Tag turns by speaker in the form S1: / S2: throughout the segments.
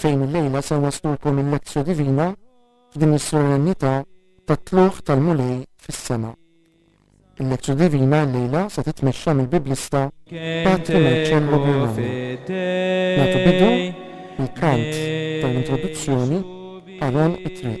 S1: fejn illejla se nwaslulkom il-Lectio Divina f'din is-Solennità tat-Tlugħ tal-Mulej fis-Sema. Il-Lectio Divina illejla se titmexxa mill-Biblista Patri Marcello Birmana. Nagħtu bidu bil-kant tal-introduzzjoni Aron it-Triq.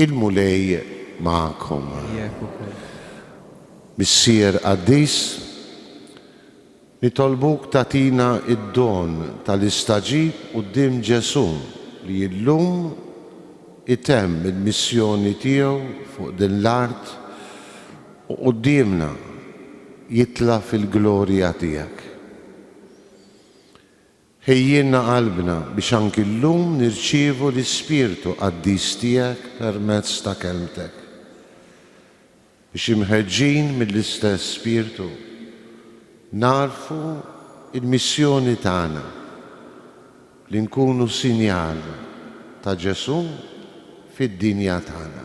S2: Il-Mulej magħkom. Miegħek ukoll. Missier qaddis, nitolbuk tagħtina d-don tal-istagħġib quddiem Ġesù li llum itemm il-missjoni tiegħu fuq din l-art u quddiemna jitla' fil-glorja tiegħek. Ħejjilna qalbna biex anki llum nirċievu l-Ispirtu Qaddis Tiegħek permezz ta' Kelmtek, biex imħeġġin mill-istess Spirtu, nagħrfu l-missjoni tagħna, li nkunu sinjal ta' Ġesù fid-dinja tagħna.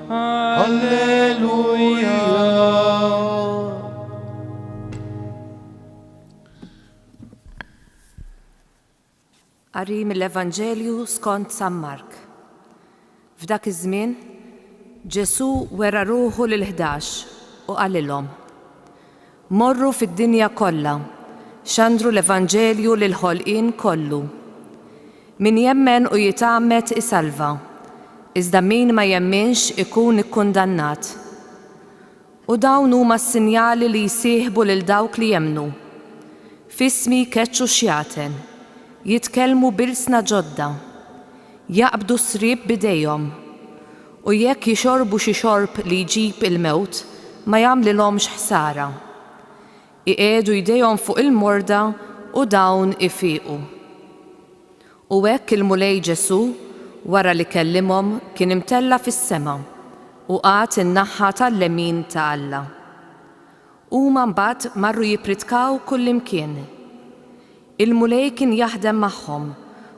S3: Alleluja.
S4: Qari mill-Evanġelju skont San Mark. F'dak iż-żmien, Ġesù wera ruħu lil ħdax u qalilhom, Morru fid-dinja kollha, xandru l-evanġelju lill-ħolqien kollu. Min jemmen u jitgħammed isalva, iżda min ma jemminx ikun ikkundannat. U dawn huma s-sinjali li jsieħbu lil dawk li jemmnu, F'ismi jkeċċu x-xjaten, jitkellmu b'ilsna ġodda, jaqbdu s-sriep b'idejhom, U jekk jixorbu xi xorb li jġib il-mewt, ma jagħmlilhomx ħsara. Iqiegħdu jdejhom fuq il-morda u dawn ifiqu. U hekk il-Mulej Ġesù, wara li kellimhom, kien imtella' fis-sema, u qagħad in-naħa tal-lemin ta' Alla. Huma mbagħad marru jippritkaw kullimkien. Il-Mulej kien jaħdem magħhom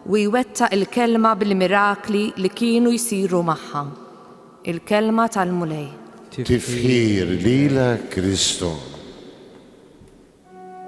S4: u jwettaq il-kelma bil-mirakli li kienu jsiru magħha. Il-kelma tal-Mulej. Tifħir
S2: lilek Kristu.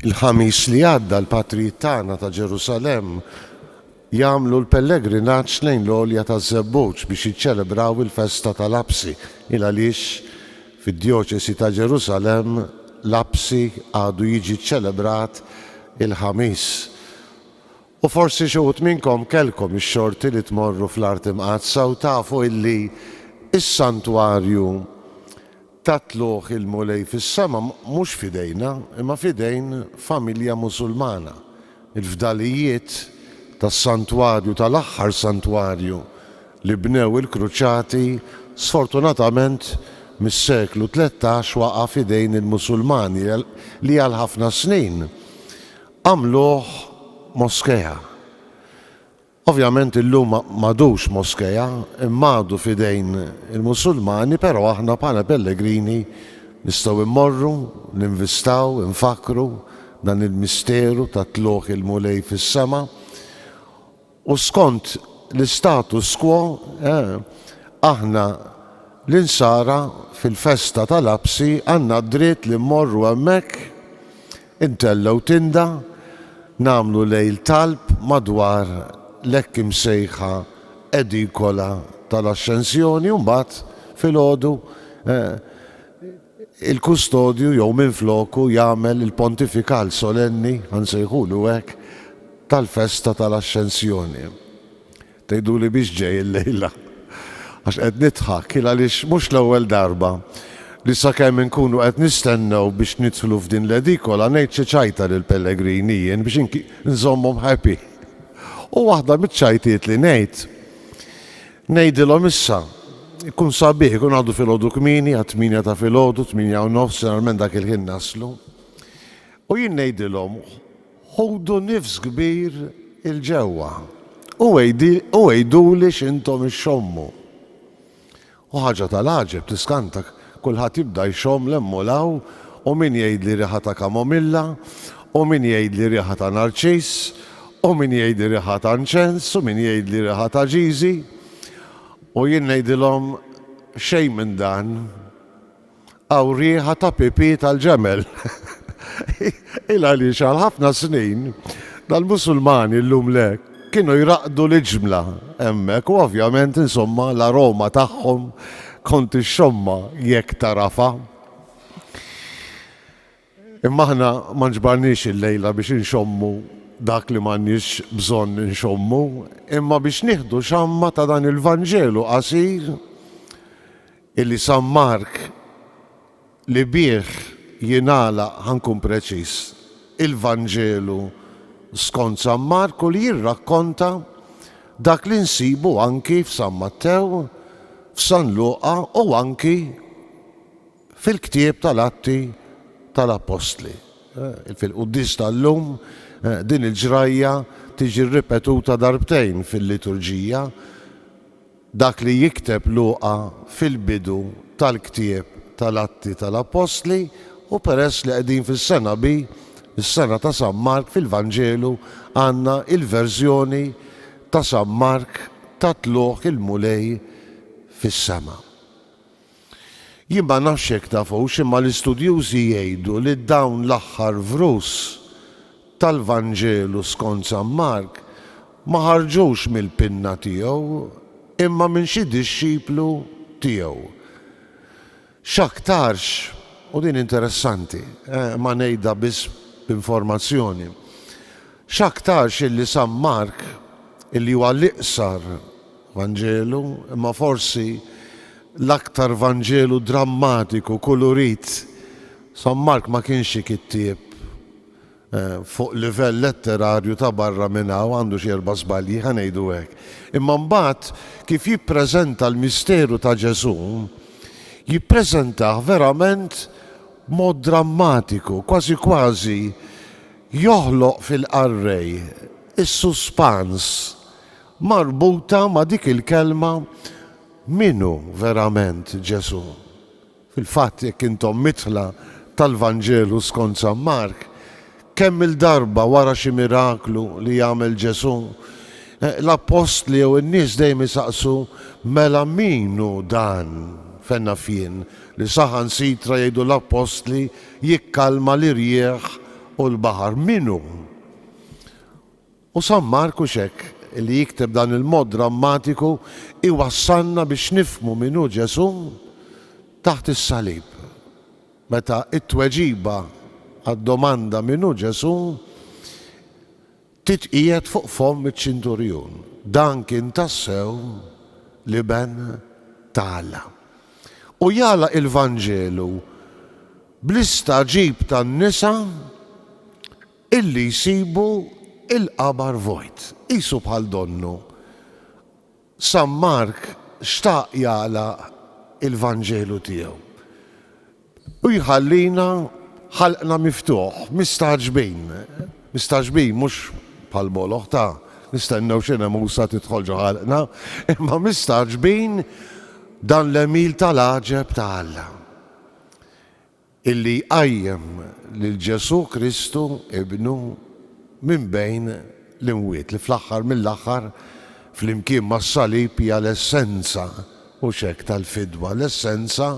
S2: Il-ħamis li għadda l-patrijiet tagħna ta' Ġerusalem jagħmlu l-pellegrinaġġ lejn l-għolja taż-żebbuġ biex jiċċelebraw il-festa tal-Apsi il għaliex fid-djoċesi ta' Ġerusalem l-Apsi għadu jiġi ċċelebrat il-ħamis. U forsi xi wħud minnkom kellkom ix-xorti li tmorru fl-Art Imqaddsa u tafu illi s-santwarju tat-tlugħ il-Mulej fis-sema mhux f'idejna, imma f'idejn familja Musulmana. Il-fdalijiet tas-santwarju, tal-aħħar santwarju li bnew il-Kruċati, sfortunatament mis-seklu tlettax waqa' f'idejn il-Musulmani li għal ħafna snin, Għamluh moskea. Ovvjament illum ma m'għadux moskea imma għadu f'idejn il-Musulmani però aħna bħala pellegrini nistgħu immorru, ninvistaw, infakkru dan il-misteru ta' tlugħ il-Mulej fis-sema U skont l-istatus quo, aħna l-Insara fil-festa tal-Għabsi għandna d-dritt li mmorru hemmhekk, intellgħu tinda, nagħmlu lejl talb madwar l-hekk imsejħa edikola tal-Ascensjoni u mbagħad filgħodu, il-kustodju jew minfloku jagħmel il-pontifikal solenni, ħa nsejħulu hekk, tal-festa tal-Axxensjoni. Tgħiduli biex ġej illejla? Għax qed nidħak, il għaliex mhux l-ewwel darba li sakemm inkunu qed nistennew biex nidħlu f'din l-edikola ngħid xi ċajta lill-pellegrini jien biex nżommhom happy. U waħda miċ-ċajtiet li ngħid, Ngħidilhom issa, ikun sabiħ ikun għadu filgħodu kmieni għat-tmienja ta' filgħodu, tmienja u nofs, ġeneralment dak il-ħin naslu. U jien ngħidilhom, ħudu nifs kbir 'il ġewwa u għiduli x'intom ixxommu. U ħaġa tal-għaġeb tiskantak, Kulħadd jibda jxomm 'l hemm u 'l hawn, u min jgħidli riħa ta' kamomilla, u min jgħidli riħa ta' narċiss, u min jgħidli riħa ta' nċens, u min jgħidli riħa ta' ġiżi. U jien ngħidilhom, Xejn minn dan. Hawn riħa ta' pipì tal-ġemel. Il għaliex għal ħafna snin, dal-Musulmani llum le. Kienu jraqqdu l-iġmla hemmhekk u ovvjament insomma l-aroma tagħhom kont ixxommha jekk tagħrafha. Imma aħna ma nġbarniex illejla biex inxommu dak li m'għandniex bżonn inxommu, imma biex nieħdu xamma ta' dan il-Vanġelu qasir illi San Mark li bih jingħalaq, ħa nkun preċiż, il-Vanġelu skont San Marku li jirrakkonta dak li nsibu anki f'San Mattew, f'San Luqa u anki fil-ktieb tal-Atti tal-Appostli. Fil-Quddies tal-lum din il-ġrajja tiġi ripetuta darbtejn fil-liturġija. Dak li jikteb Luqa fil-bidu tal-ktieb tal-Atti tal-Appostli u peress li qegħdin fis-sena bi, is-sena ta' San Mark, fil-Vanġelu għandna il-verżjoni ta' San Mark tat-tlugħ il-Mulej fis-sema. Jien ma nafx jekk tafux imma l-istudjużi jgħidu li dawn l-aħħar vrus tal-Vanġelu skont San Mark ma ħarġux mill-pinna tiegħu imma minn xi dixxiplu tiegħu. X'aktarx, u din interessanti, eh, imma ngħidha biss b'informazzjoni, X'aktarx illi San Mark, illi huwa l-iqsar Vanġelu, imma forsi l-aktar Vanġelu drammatiku, kulurit, San Mark ma kienx xi kittieb fuq livell letterarju ta' barra minn hawn, għandu xi erba' żbalji, ħa ngħidu hekk. Imma mbagħad kif jippreżenta l-misteru ta' Ġesù, jippreżentah verament b'mod drammatiku, kważi kważi joħloq fil-qarrej is-suspans marbuta ma' dik il-kelma min hu verament Ġesù. Fil-fatt, jekk intom midħla tal-Vanġelu skont San Mark, kemm-il darba wara xi miraklu li jagħmel Ġesù, l-appostli jew in-nies dejjem isaqsu, Mela min hu dan, fejn naf jien, li saħansitra jgħidu l-appostli, jikkalma l-irjieħ u l-baħar. Min hu? U San Marku x'hekk li jikteb dan il-mod drammatiku iwassalna biex nifhmu min hu Ġesù taħt is-salib. Meta t-tweġiba għad-domanda min hu Ġesù Titqiegħed fuq fomm iċ-ċinturjun. Dan kien tassew l-Iben ta' Alla. U jagħlaq il-Vanġelu bl-istagħġib tan-nisa illi jsibu l-qabar vojt, qisu bħal donnu. San Mark xtaq jagħlaq il-Vanġelu tiegħu u jħallina ħalqna miftuħ, mistagħġbin, mistagħġbin mhux bħall-moloħ ta' nistennew xi nemusa tidħol ġo ħalqna, imma mistagħġbin dan l-għemil tal-għaġeb ta' Alla. illi jqajjem lil Ġesù Kristu Ibnu minn bejn l-imwiet, li fl-aħħar mill-aħħar, flimkien mas-salib, hija l-essenza, mhux hekk, tal-fidwa, l-essenza,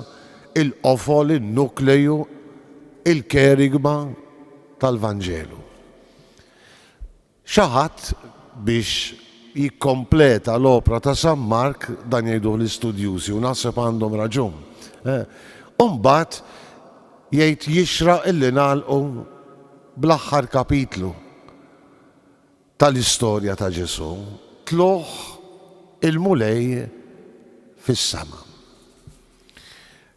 S2: il-qofol, in-nukleju, il-kerygma tal-Vanġelu. Xi ħadd biex jikkompleta l-opra ta' San Mark, dan jgħiduh l-istudjużi u naħseb għandhom raġun. U mbagħad jgħid jixraq illi nagħlqu bl-aħħar kapitlu tal-istorja ta' Ġesù, tlugħ il-Mulej fis-sema.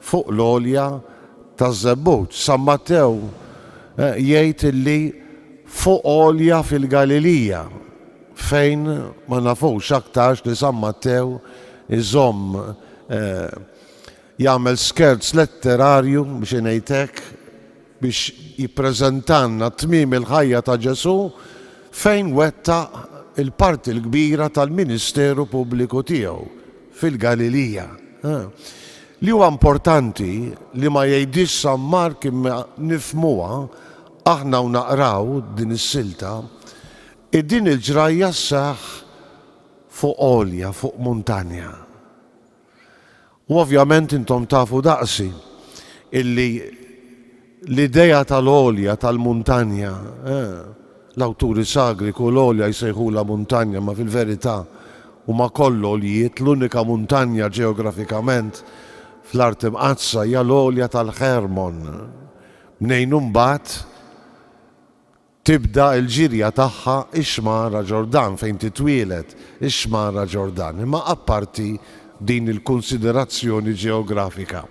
S2: fuq l-għolja taż-Żebbud. San Mattew jgħid li fuq għolja fil-Galilija, fejn ma nafux aktarx li San Mattew iżomm jagħmel skerz letterarju, biex ngħid hekk, biex jippreżentalna tmiem il-ħajja ta' Ġesù fejn wettaq il-parti l-kbira tal-ministeru pubbliku tiegħu fil-Galilija. Li huwa importanti li ma jgħidhiex San Mark imma nifhmuha aħna u naqraw din is-silta, hi din il-ġrajja sseħħ fuq għolja, fuq muntanja. U ovvjament intom tafu daqsi illi l-idea tal-għolja tal-muntanja, eh, l-awturi sagri kull għolja jsejħulha muntanja ma fil-verità huma kollha għoljiet, l-unika muntanja ġeografikament fl-Art Imqaddsa hija l-għolja tal-Ħermon, mnejn imbagħad, Tibda l-ġirja tagħha x-xmara Ġordan fejn titwieled, ix-xmara Ġordan. Imma apparti din il-kunsiderazzjoni ġeografika,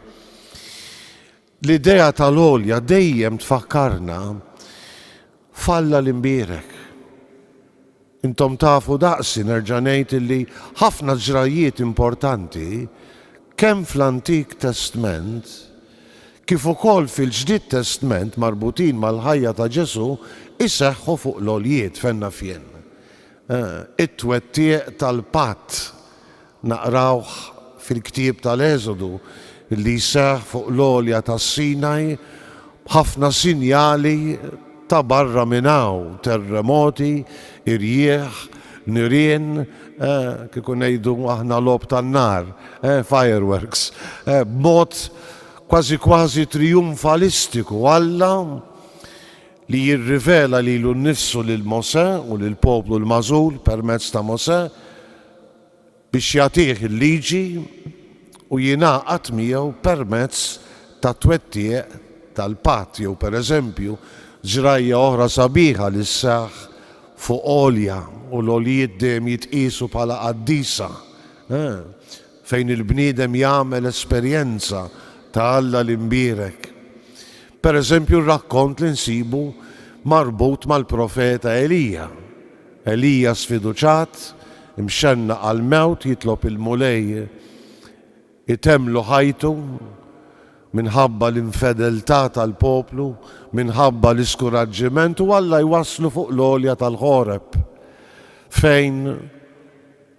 S2: l-idea tal-għolja dejjem tfakkarna f'Alla l-imbierek. Intom tafu daqsi nerġa' ngħid illi ħafna ġrajjiet importanti kemm fl-Antik Testment kif ukoll fil-Ġdid Testment marbutin mal-ħajja ta' Ġesù jseħħu fuq l-għoljiet fejn naf jien. It-twettiq tal-patt Naqrawh fil-ktieb tal-Eżodu li seħħ fuq l-għolja tas-Sinaj b'ħafna sinjali ta' barra minn hawn, terremoti, irjieħ, nirien, kieku ngħidu aħna logħob tan-nar, fireworks, b'mod kważi kważi trijunfalistiku Alla li jirrivela lilu nnifsu lil Mosè u lill-poplu l-magħżul permezz ta' Mosè, biex jagħtih il-liġi u jingħaqad miegħu permezz tat-twettiq tal-patt jew, per eżempju, żrajja oħra sabiħa li sseħħ fuq għolja u l-għoljiet dejjem jitqiesu bħala qaddisa, fejn il-bniedem jagħmel esperjenza ta' Alla l-Imbierek. Per eżempju, r-rakkont li nsibu marbut mal-profeta Elija. Elija sfiduċat, imxennaq għall-mewt jitlob il-Mulej itemmlu ħajtu minħabba l-infedeltà tal-poplu, minħabba l-iskuraġġiment u Alla jwasslu fuq l-għolja tal-Ħoreb fejn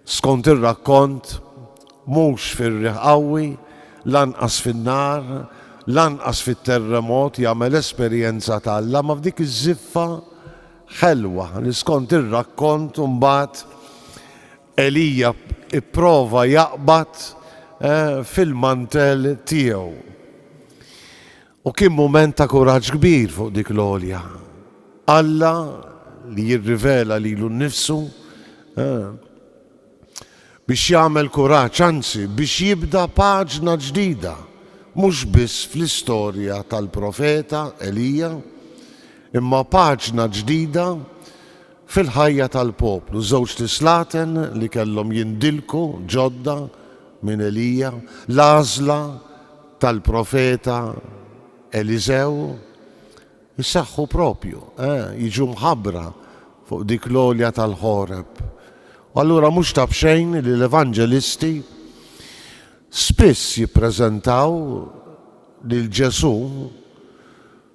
S2: Skont ir-rakkont, mhux fir-riħ qawwi, lanqas fin-nar, lanqas fit-terremot jagħmel esperjenza ta' Alla, ma f'dik iż-żiffa ħelwa li skont ir-rakkont imbagħad Elija pprova jaqbad fil-mantell tiegħu. U kien mument ta' kuraġġ kbir fuq dik l-għolja. Alla li jirrivela lilu nnifsu biex jagħmel kuraġġ, anzi, biex jibda paġna ġdida, mhux biss fl-istorja tal-profeta Elija, imma paġna ġdida fil-ħajja tal-poplu. Żewġt islaten li kellhom jindilku ġodda minn Elija, l-għażla tal-profeta Eliżew jsaħħu proprju, eh, jiġu mħabbra fuq dik l-għolja tal-Ħoreb. U allura mhux ta' b'xejn li l-Evanġelisti spiss jippreżentaw lil Ġesù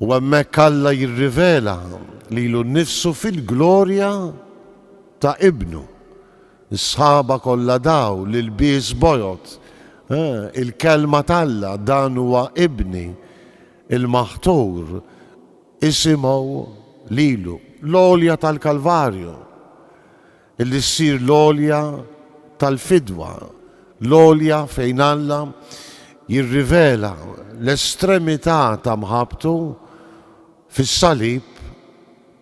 S2: U hemmhekk Alla jirrivela lilu nnifsu fil-glorja ta' Ibnu. Is-sħaba kollha daw, l-ilbies bojod, il-Kelma t'Alla, Dan huwa Ibni, il-Maħtur, isimgħu lilu. L-għolja tal-Kalvarju. li ssir l-għolja tal-fidwa, l-għolja fejn Alla jirrivela l-estremità ta' mħabbtu fis-salib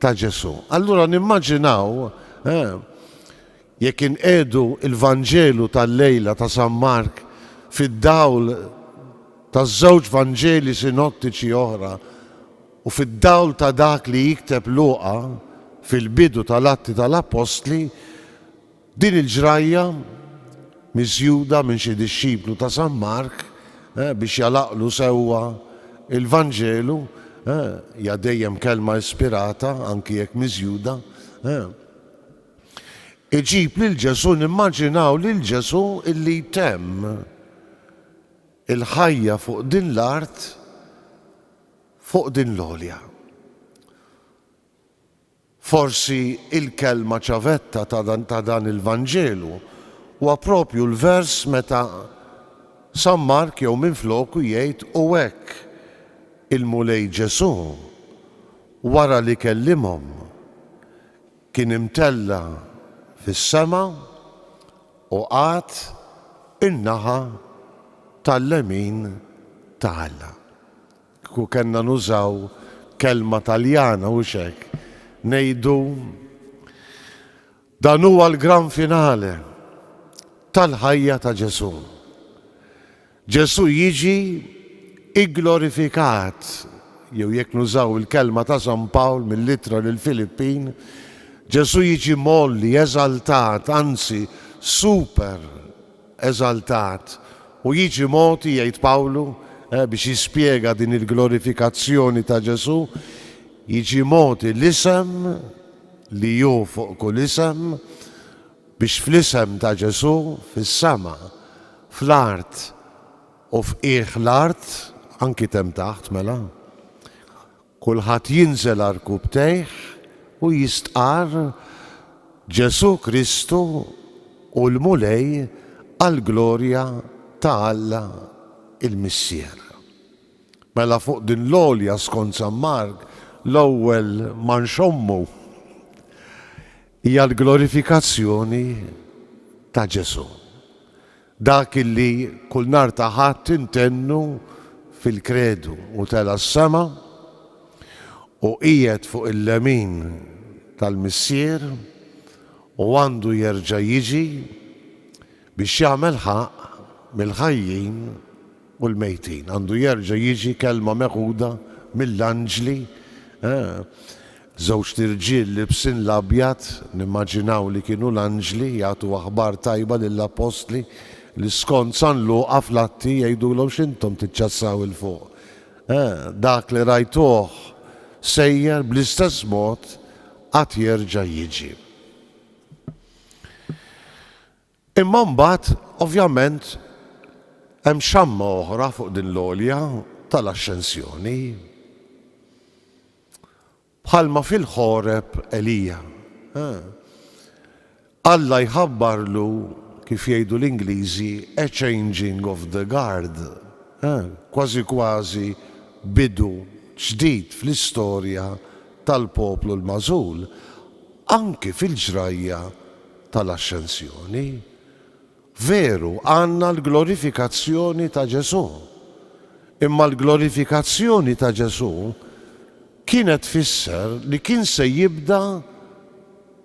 S2: ta' Ġesù. Allura nimmaġinaw jekk inqiegħdu l-Vanġelu tal-lejla ta' San Mark fid-dawl taż-żewġ Vanġeli sinottiċi oħra U fid-dawl ta' dak li jikteb Luqa fil-bidu tal-Atti tal-Appostli, din il-ġrajja miżjuda minn xi dixxiplu ta' San Mark biex jagħlaqlu sewwa l-Vanġelu hija dejjem kelma ispirata, anki jekk miżjuda, iġib lil Ġesù, nimmaġinaw lil Ġesù illi jtemm il-ħajja fuq din l-art, Fuq din l-għolja. Forsi il-kelma ċavetta ta' dan il-Vanġelu huwa proprju l-vers meta San Mark jew minfloku jgħid u hekk il-Mulej Ġesù wara li kellimhom Kien imtella' fis-sema u qagħad in-naħa tal-lemin ta' Alla. Kieku kellna nużaw kelma Taljana hux hekk ngħidu, dan huwa l-gran finale tal-ħajja ta' Ġesù. Ġesù jiġi gglorifikat, jew jekk nużaw il-kelma ta' San Pawl mill-Ittra lill-Filippin, Ġesù jiġi mgħolli, eżaltat, anzi super eżaltat, u jiġi mogħti, jgħid Pawlu, biex jispjega din il-glorifikazzjoni ta' Ġesù, jiġi mogħti l-isem li hu fuq kull isem, Biex fl-isem ta' Ġesù, fis-sema, fl-art u f'qiegħ l-art, anki t'hemm taħt, mela, kulħadd jinżel għal rkubtejh u jistqarr, Ġesù Kristu hu l-Mulej għall-glorja ta' Alla l-Missier. Mela fuq din l-għolja, skont San Mark, l-ewwel ma nxommu. Hija l-glorifikazzjoni ta' Ġesù, dak li kull nhar ta' Ħadd intennu fil-Kredu, Hu tela' s-sema u qiegħed fuq il-lemin tal-Missier u għandu jerġa' jiġi biex jagħmel ħaqq mill-ħajjin, u l-mejtin. Għandu jerġa' jiġi kelma meħuda mill-anġli, eh, żewġt irġiel libsin l-abjad, nimmaġinaw li kienu l-anġli, jagħtu aħbar tajba lill-appostli li skont San Luqa fl-Atti jgħidulhom x'intom tiċċassaw 'il fuq, eh, dak li rajtuh sejjer bl-istess mod għad jerġa' jiġi. Imma mbagħad, ovvjament, hemm xamma oħra fuq din l-għolja tal-Axxensjoni. Bħalma fil-Ħoreb Elija, eh, Alla jħabbarlu, kif jgħidu l-Ingliżi, a changing of the guard, eh, kważi kważi bidu ġdid fl-istorja tal-poplu l-magħżul, anki fil-ġrajja tal-Ascensjoni, veru għandna l-glorifikazzjoni ta' Ġesù, imma l-glorifikazzjoni ta' Ġesù kienet tfisser li kien se jibda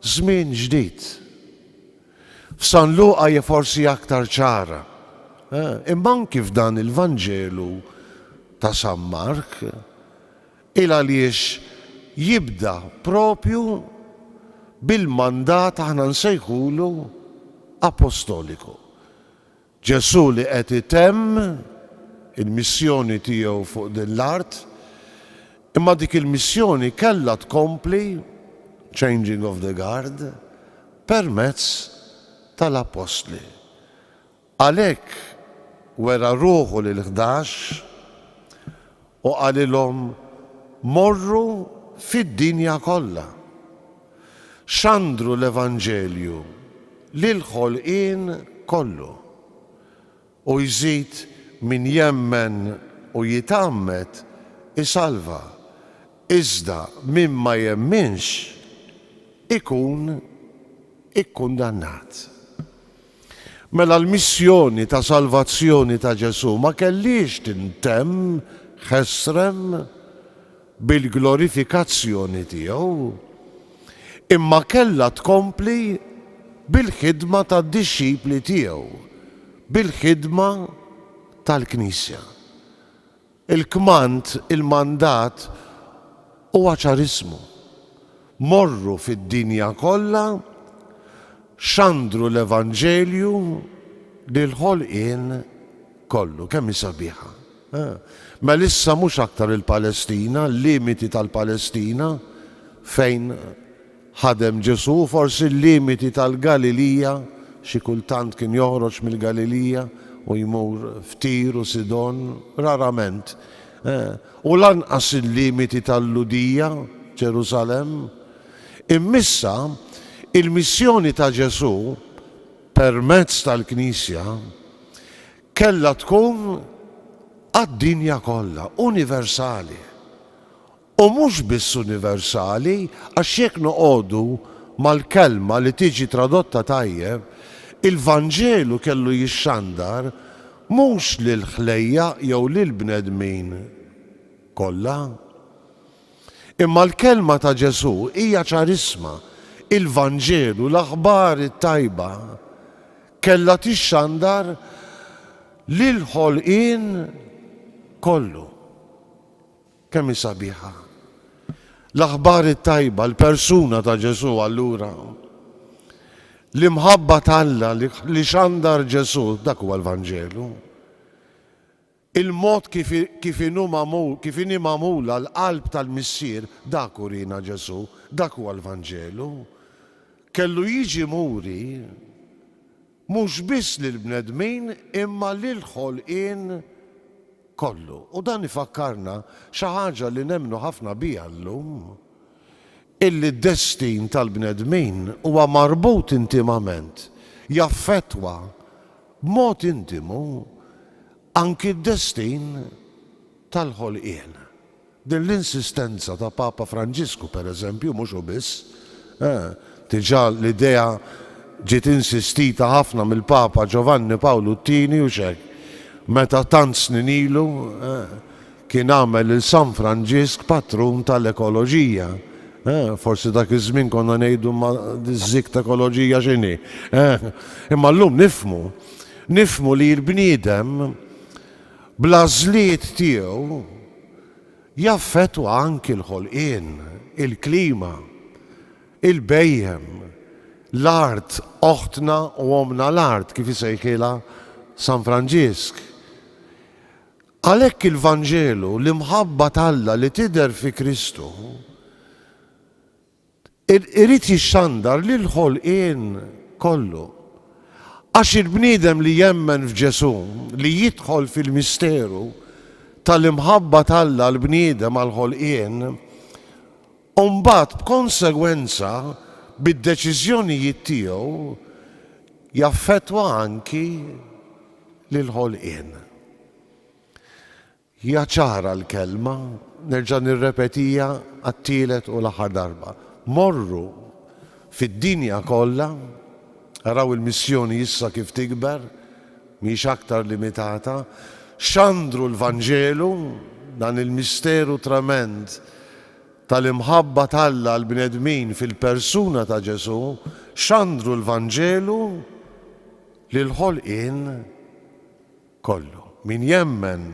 S2: żmien ġdid. F'San Luqa hija forsi aktar ċara, imma anki f'dan il-Vanġelu ta' San Mark, Il għaliex jibda proprju bil-mandat aħna nsejħulu apostoliku. Ġesù li qed itemm il-missjoni tiegħu fuq din l-art, imma dik il-missjoni kellha tkompli, changing of the guard, permezz tal-appostli. Għalhekk wera ruħu lill-ħdax u qalilhom, Morru fid-dinja kollha. Xandru l-evanġelju lill-ħolqien kollu. U jżid min jemmen u jitgħammed isalva, iżda min ma jemminx ikun ikkundannat. Mela l-missjoni ta' salvazzjoni ta' Ġesù ma kellhiex tintemm ħesrem bil-glorifikazzjoni tiegħu, imma kellha tkompli bil-ħidma tad-dixxipli tiegħu, bil-ħidma tal-Knisja. Il-kmand, il-mandat, huwa ċarismu, Morru fid-dinja kollha, xandru l-evanġelju lill-ħolqien kollu. Kemm hi sabiħa! Mela issa mhux aktar il-Palestina, l-limiti tal-Palestina fejn Ħadem Ġesù forsi l-limiti tal-Galilija, xi kultant kien joħroġ mill-Galilija u jmur f'Tir u Sidon, rarament, u lanqas il-limiti tal-Lhudija, Ġerusalemm. Immissa, il-missjoni ta' Ġesù, permezz tal-Knisja, kellha tkun għad-dinja kollha, universali. U mhux biss universali, għax jekk noqogħdu mal-kelma li tiġi tradotta tajjeb, il-Vanġelu kellu jixxandar mhux lill-ħlejjaq jew lill-bnedmin kollha. Imma l-kelma ta' Ġesù hija ċarissma, il-Vanġelu, l-aħbar it-tajba, kellha tixxandar lill-ħolqien kollu. Kemm hi sabiħa l-aħbar it-tajba, l-persuna ta' Ġesù allura! L-imħabba t'Alla li xandar Ġesù, dak huwa l-Vanġelu. Il-mod kif kif inhu magħmul, kif inhi magħmula l-qalb tal-Missier, dak urina Ġesù, dak huwa l-Vanġelu. Kellu jiġi muri. Mhux biss lill-bnedmin imma lill-ħolqien kollu. U dan ifakkarna xi ħaġa li nemmnu ħafna biha llum, illi d-destin tal-bnedmin huwa marbut intimament, jaffettwa b'mod intimu anki d-destin tal-ħolqien. Din l-insistenza ta' Papa Franġisku, per eżempju, mhux hu biss, eh, diġà l-idea ġiet insistita ħafna mill-Papa Ġovanni Pawlu t-Tieni, hux hekk, meta tant snin ilu, eh, kien għamel lil San Franġisk patrun tal-ekoloġija, eh, forsi dak iż-żmien konna ngħidu imma diż-żikk t'ekoloġija x'inhi, eh, imma llum nifhmu, nifhmu li l-bniedem, bl-għażliet tiegħu, jaffettwa anki l-ħolqien, il-klima, il-bhejjem, l-art, oħtna u ommna l-art, kif isejħilha San Franġisk. Għalhekk il-Vanġelu, l-imħabba t'Alla li tidher fi Kristu, Irid jixxandar lill-ħolqien kollu. Għax il-bniedem li jemmen f'Ġesù, li jidħol fil-misteru tal-imħabba t'Alla għall-bniedem, għall-ħolqien, u mbagħad b'konsegwenza bid-deċiżjonijiet tiegħu jaffettwa anki lill-ħolqien. Hija ċara l-kelma, nerġa' nirrepetiha għat-tielet u l-aħħar darba, morru fid-dinja kollha, araw il-missjoni issa kif tikber, mhijiex aktar limitata, xandru l-Vanġelu, dan il-misteru tremend tal-imħabba t'Alla għall-bnedmin fil-persuna ta' Ġesù, xandru l-Vanġelu lill-ħolqien kollu. Min jemmen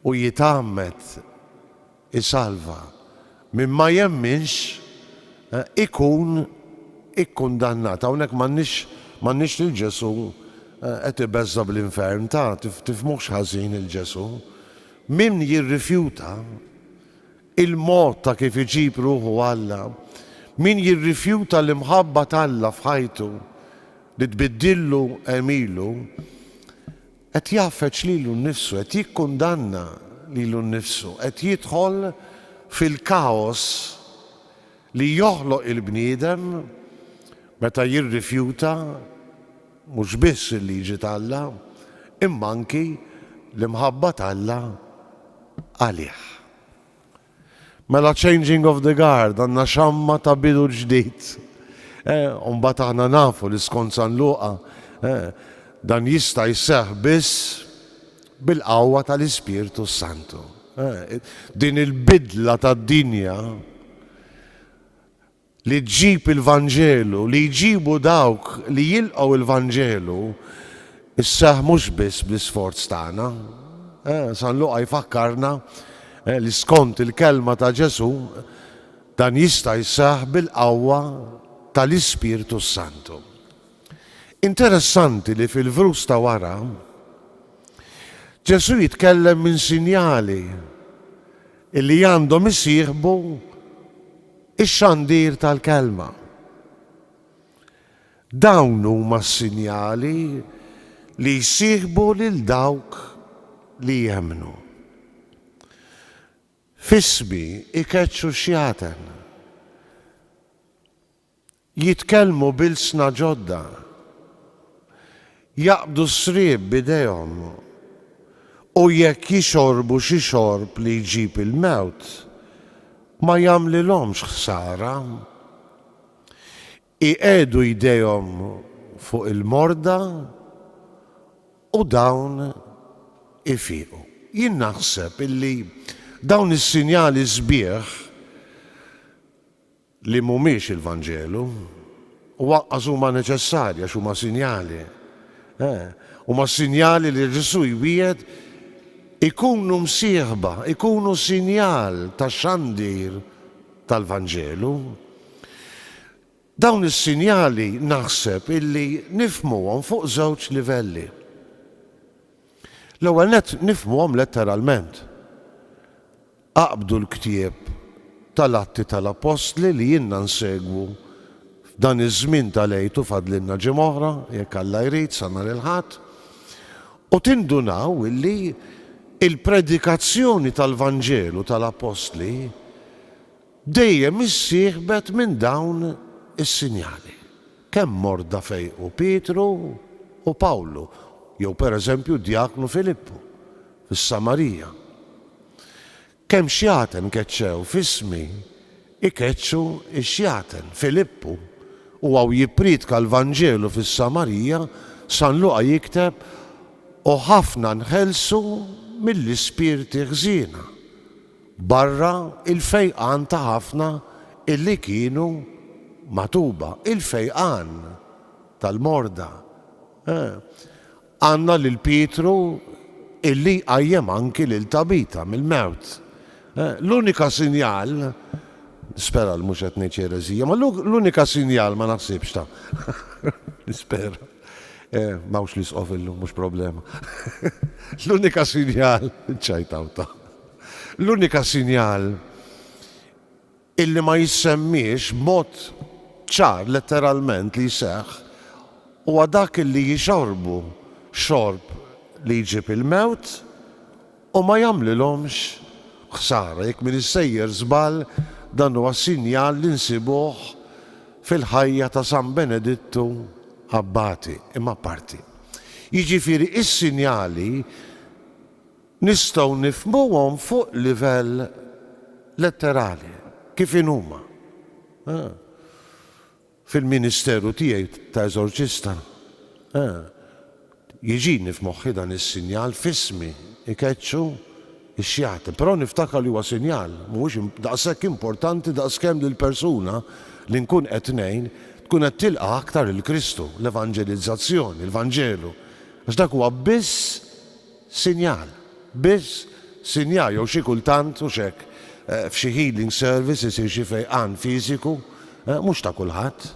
S2: u jitgħammed isalva, min ma jemminx ikun ikkundannat. Hawnhekk m'għandniex lil Ġesù qed ibeżża' bl-infern, ta, tifhmuhx ħażin 'il Ġesù. Min jirrifjuta Il-mod ta' kif iġib ruħu Alla, Min jirrifjuta l-imħabba t'Alla f'ħajtu, li tbiddillu għemilu, qed jgħaffeġ lilu nnifsu, qed jikkundanna lilu nnifsu, qed jidħol fil-kaos li joħloq il-bniedem meta jirrifjuta Mhux biss il-liġi t'Alla, imma anki l-imħabba t'Alla għalih. Mela changing of the guard, għandna xamma ta' bidu ġdid. Eh, u mbagħad aħna nafu li skont San Luqa, eh, dan jista' jseħħ biss bil-qawwa tal-Ispirtu s-Santu. Eh, din il-bidla tad-dinja li ġġib il-Vanġelu, li jġibu dawk li jilqgħu il-Vanġelu, isseħħ mhux biss bl-isforz tagħna. San Luqa jfakkarna li skont il-kelma ta' Ġesù, dan jista' jseħħ bil-qawwa tal-Ispirtu s-Santu. Interessanti li fil-vrus ta' wara, Ġesù jitkellem minn sinjali li għandhom isieħbu x-xandir tal-Kelma. Dawn huma s-sinjali li jsieħbu lil dawk li jemmnu. F'ismi jkeċċu x-xjaten. Jitkellmu b'ilsna ġodda. Jaqbdu s-sriep b'idejhom. U jekk jixorbu xi xorb li jġib il-mewt, ma jagħmlilhomx ħsara. Iqiegħdu jdejhom fuq il-morda u dawn ifiqu. Jien naħseb illi dawn is-sinjali sbieħ. li mhumiex il-Vanġelu, u anqas huma neċessarji għax huma sinjali. Eh, huma s-sinjali li Ġesù jwiegħed ikunu msieħba, ikunu sinjal ta' xandir tal-Vanġelu. Dawn is-sinjali naħseb illi nifhmuhom fuq żewġ livelli. L-ewwel nett nifhmuhom letteralment. Aqbdu l-ktieb tal-Atti tal-Appostli li ilna nsegwu f'dan iż-żmien tal-Għid u fadlilna ġimgħa oħra, jekk Alla jrid, sa nhar il-Ħadd, u tindunaw li l-predikazzjoni tal-Vanġelu tal-Appostli dejjem issieħbet minn dawn is-sinjali. Kemm morda fejqu Pietru u Pawlu, jew pereżempju d-djaknu Filippu fis-Samarija. Kemm xjaten keċċew f'ismi, ikeċċu x-xjaten. Filippu, u hawn jippriedka l-Vanġelu fis-Samarija, San Luqa jikteb, u ħafna nħelsu mill-ispirti ħżiena, barra l-fejqan ta' ħafna illi kienu magħtuba, il-fejqan tal-morda. Għandna lil Pietru illi jqajjem anki lil Tabita mill-mewt. L-unika sinjal, nispera li mhux qed ngħid ereżija, ma l-unika sinjal ma naħsibx ta', nispera, m'hawnx l-Isqof illum mhux problema, l-unika sinjal, ċċajtaw ta', l-unika sinjal illi ma jissemmiex b'mod ċar letteralment li jseħħ, huwa dak illi jixorbu xorb li jġib il-mewt u ma jagħmlilhomx ħsara. Jekk m'iniex sejjer żball, dan huwa sinjal li nsibuh fil-ħajja ta' San Benedittu Abbati, imma apparti. Jiġifieri s-sinjali Nistgħu nifhmuhom fuq livell letterali, kif inhuma. Fil-ministeru tiegħi ta' eżorċista, jiġini f'moħħi dan is-sinjal, f'ismi, ikeċċu x-xjaten. Però niftakar li huwa sinjal, mhuwiex daqshekk importanti daqskemm li l-persuna li nkun qed ngħin tkun qed tilqa' aktar 'il Kristu, l-evanġelizzazzjoni, il-Vanġelu, għax dak huwa biss sinjal, biss sinjal jew xi kultant, hux hekk, f'xi healing service isir xi fejqan fiżiku, mhux ta' kulħadd,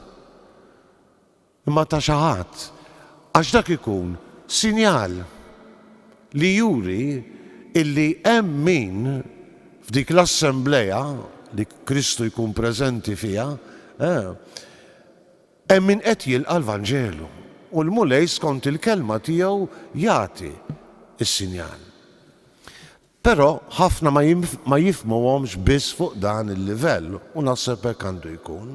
S2: imma ta' xi ħadd, għax dak ikun sinjal li juri illi hemm min f'dik l-assemblea li Kristu jkun preżenti fiha, Hemm min qed jilqa' l-Vanġelu, u l-Mulej skont il-kelma tiegħu jagħti s-sinjal. Però ħafna ma jifhmuhomx biss fuq dan il-livell, u naħseb hekk għandu jkun.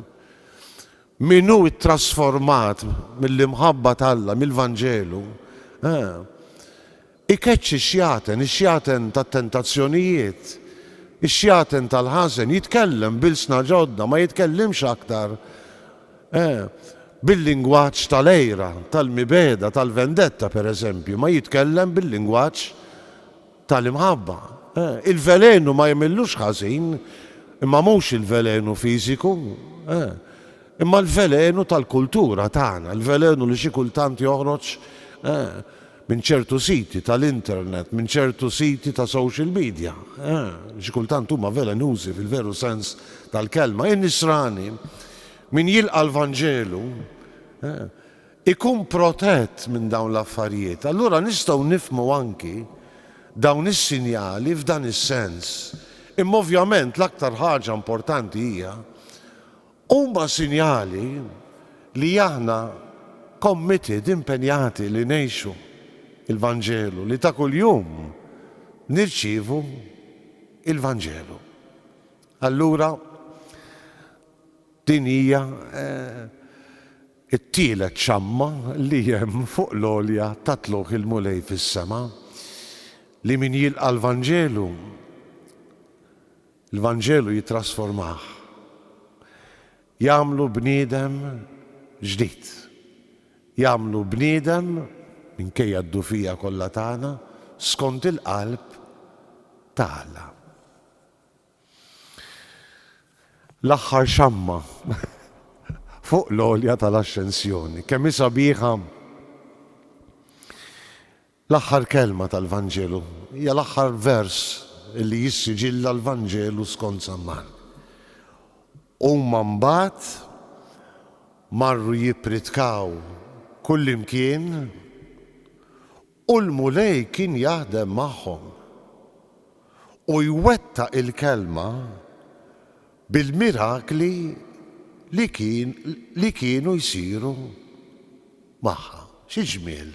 S2: Min hu ttrasformat mill-imħabba t'Alla, mill-Vanġelu, eh, Ikeċċi x-xjaten, ix-xjaten tat-tentazzjonijiet, ix-xjaten tal-ħażen, jitkellem b'ilsna ġodda, ma jitkellimx aktar bil-lingwaġġ tal-għira, tal-mibegħda, tal-vendetta, pereżempju, ma jitkellem bil-lingwaġġ tal-imħabba. Il-velenu ma jagħmillux ħażin, imma mhux il-velenu fiżiku, imma l-velenu tal-kultura tagħna, il-velenu li xi kultant joħroġ minn ċertu siti tal-internet, minn ċertu siti ta' social media, li xi kultant huma velenużi fil-veru sens tal-kelma. In-Nisrani, min jilqa' l-Vanġelu, ikun protett minn dawn l-affarijiet. Allura nistgħu nifhmu anki dawn is-sinjali f'dan is-sens. Imma ovvjament l-aktar ħaġa importanti hija Huma sinjali li aħna committed, impenjati li ngħixu l-Vanġelu, li ta' kuljum nirċievu l-Vanġelu. Allura din hija t-tielet xamma li hemm fuq l-għolja ta' tlugħ il-Mulej fis-sema, li min jilqa' l-Vanġelu Il-Vanġelu jittrasformah, jagħmlu bniedem ġdid. Jagħmlu bniedem, minkejja d-dufija kollha tagħna, skont il-qalb ta' Alla. L-aħħar xamma fuq l-għolja tal-Axxensjoni, kemm hi sabiħa! L-aħħar kelma tal-Vanġelu hija l-aħħar vers li jissiġilla l-Vanġelu skont San Mark. Huma mbagħad marru jippritkaw kullimkien u l-Mulej kien jaħdem magħhom u jwettaq il-kelma bil-mirakli li kien li kienu jsiru magħha. Xi ġmiel!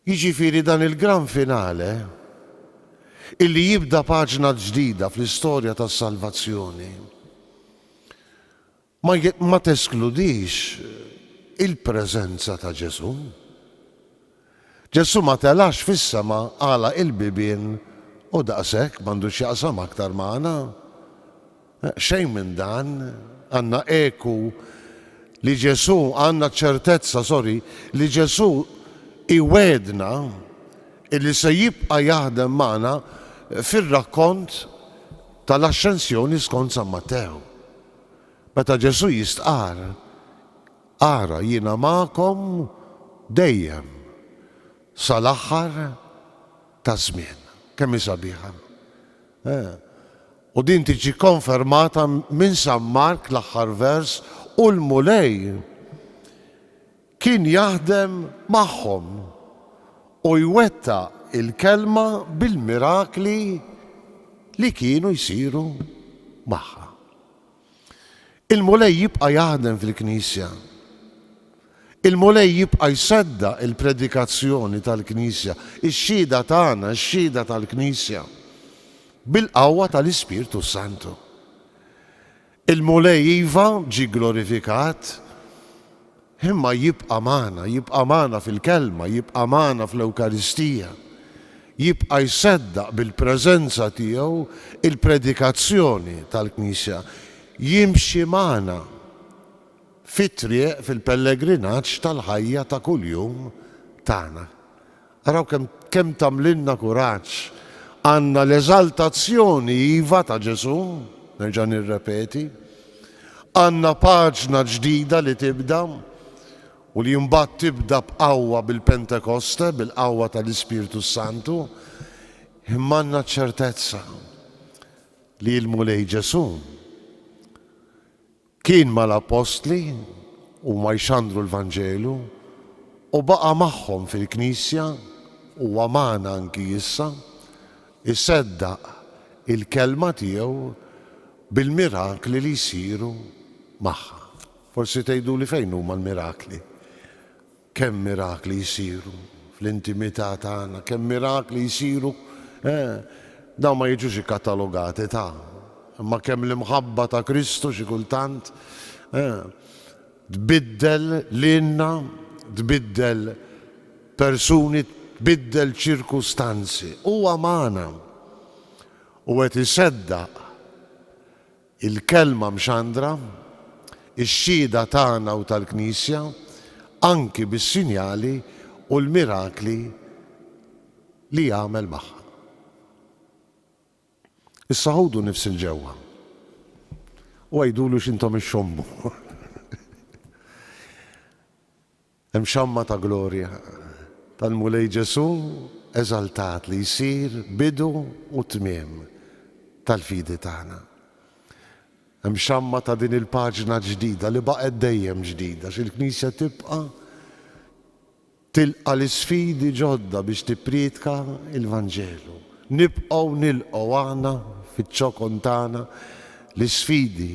S2: Jiġifieri dan il-gran finale illi jibda paġna ġdida fl-istorja tas-salvazzjoni Ma ma teskludix il-preżenza ta' Ġesù. Ġesù ma telax fis-sema, għalaq il-bibien u daqshekk m'għandu x'jaqsam aktar magħna. Xejn minn dan. Għandna eku li Ġesù, għandna ċ-ċertezza, sorry, li Ġesù iwegħedna illi se jibqa' jaħdem magħna fir-rakkont tal-Axxensjoni skont San Mattew. Meta Ġesù jistqarr, Ara, jiena magħkom dejjem sal-aħħar taż-żmien. Kemm hi sabiħa! U din tiġi konfermata minn San Mark, l-aħħar vers, U l-Mulej Kien jaħdem magħhom u jwettaq il-Kelma bil-mirakli li kienu jsiru magħha. Il-Mulej jibqa' jaħdem fil-Knisja. Il-Mulej jibqa' jseddaq il-predikazzjoni tal-Knisja, ix-xhieda tagħna, ix-xhieda tal-Knisja, bil-qawwa tal-Ispirtu s-Santu. Il-Mulej iva ġie glorifikat, imma jibqa' magħna, jibqa' magħna fil-Kelma, jibqa' magħna fl-Ewkaristija. Jibqa' jseddaq bil-preżenza tiegħu l-predikazzjoni tal-Knisja. Jimxi magħna fit-triq, fil-pellegrinaġġ tal-ħajja ta' kuljum tagħna. Araw kemm kemm tagħmlilna kuraġġ. Għandna l-eżaltazzjoni, iva, ta' Ġesù, nerġa' nirrepeti. Għandna paġna ġdida li tibda u li mbagħad tibda b'qawwa bil-Pentekoste, bil-qawwa tal-Ispirtu s-Santu, imma għandna ċ-ċertezza li l-Mulej Ġesù Kien mal-Appostli, huma jxandru l-Vanġelu, u baqa' magħhom fil-Knisja, huwa magħna anki issa, iseddaq il-Kelma tiegħu bil-mirakli li jsiru magħha. Forsi tgħiduli fejn huma l-mirakli? Kemm mirakli jsiru fl-intimità tagħna, kemm mirakli jsiru, eh, dawn ma jiġux ikkatalogati ta', imma kemm l-imħabba ta' Kristu xi kultant, eh, tbiddel lilna, tbiddel persuni, tbiddel ċirkustanzi. Huwa magħna u qed iseddaq il-Kelma mxandra, ix-xhieda tagħna u tal-Knisja, anki bis-sinjali u l-mirakli li jagħmel magħha. Issa ħudu nifs 'il ġewwa u għidulu x'intom ixxommu. Hemm xamma ta' glorja tal-Mulej Ġesù eżaltat li jsir bidu u tmiem tal-fidi tagħna. Hemm xamma ta' din il-paġna ġdida li baqgħet dejjem ġdida għax il-Knisja tibqa' tilqa' l-isfidi ġodda biex tippriedka l-Vanġelu. Nibqgħu nilqgħu aħna fiċ-ċokon tagħna l-isfidi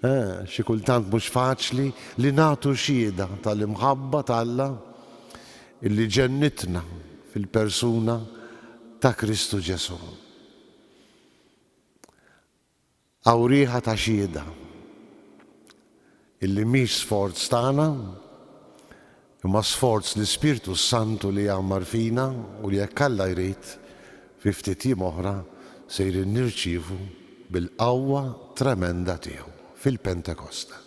S2: Eh, xi kultant mhux faċli li nagħtu xhieda tal-imħabba t'Alla illi ġennitna fil-persuna ta' Kristu Ġesù. Hawn riħa ta' xhieda illi mhix sforz tagħna, imma sforz l-Ispirtu s-Santu li jgħammar fina u li jekk Alla jrid, fi ftit jiem oħra sejrin nirċievu bil-qawwa tremenda tiegħu fil-Pentekosta.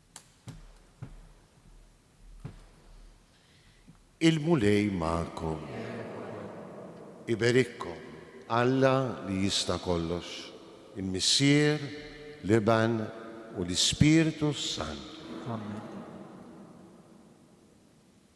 S2: Il-Mulej magħkom. Iberikkom Alla li jista' kollox, il-Missier, l-Iben u l-Ispirtu s-Santu. Amen.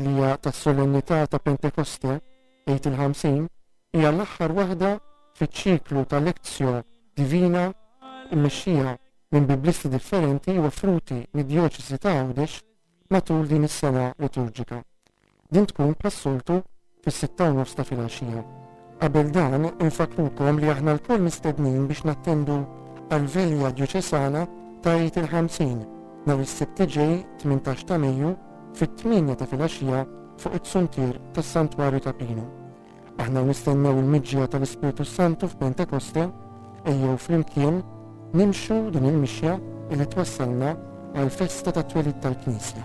S1: li hija tas-Solennità ta' Pentekoste, Għid il-Ħamsin, hija l-aħħar waħda fiċ-ċiklu ta' Lectio Divina mmexxija minn Biblisti differenti u offruti mid-Djoċesi ta' Għawdex matul din is-sena liturġika. Din tkun bħas-soltu fis-sitta u nofs ta' filgħaxija. Qabel dan, infakkrukom li aħna lkoll mistednin biex nattendu għall-Vilja Djoċesana ta' Għid il-Ħamsin, nhar is-Sibt iġej, tmintax ta' Mejju, fit-tmienja ta' filgħaxija fuq it-suntier tas-Santwarju ta' Pinu. Aħna nistennew il-miġja tal-Ispirtu s-Santu f'Pentekoste, Ejjew flimkien nimxu din il-mixja li twassalna għall-festa tat-twelid tal-Knisja.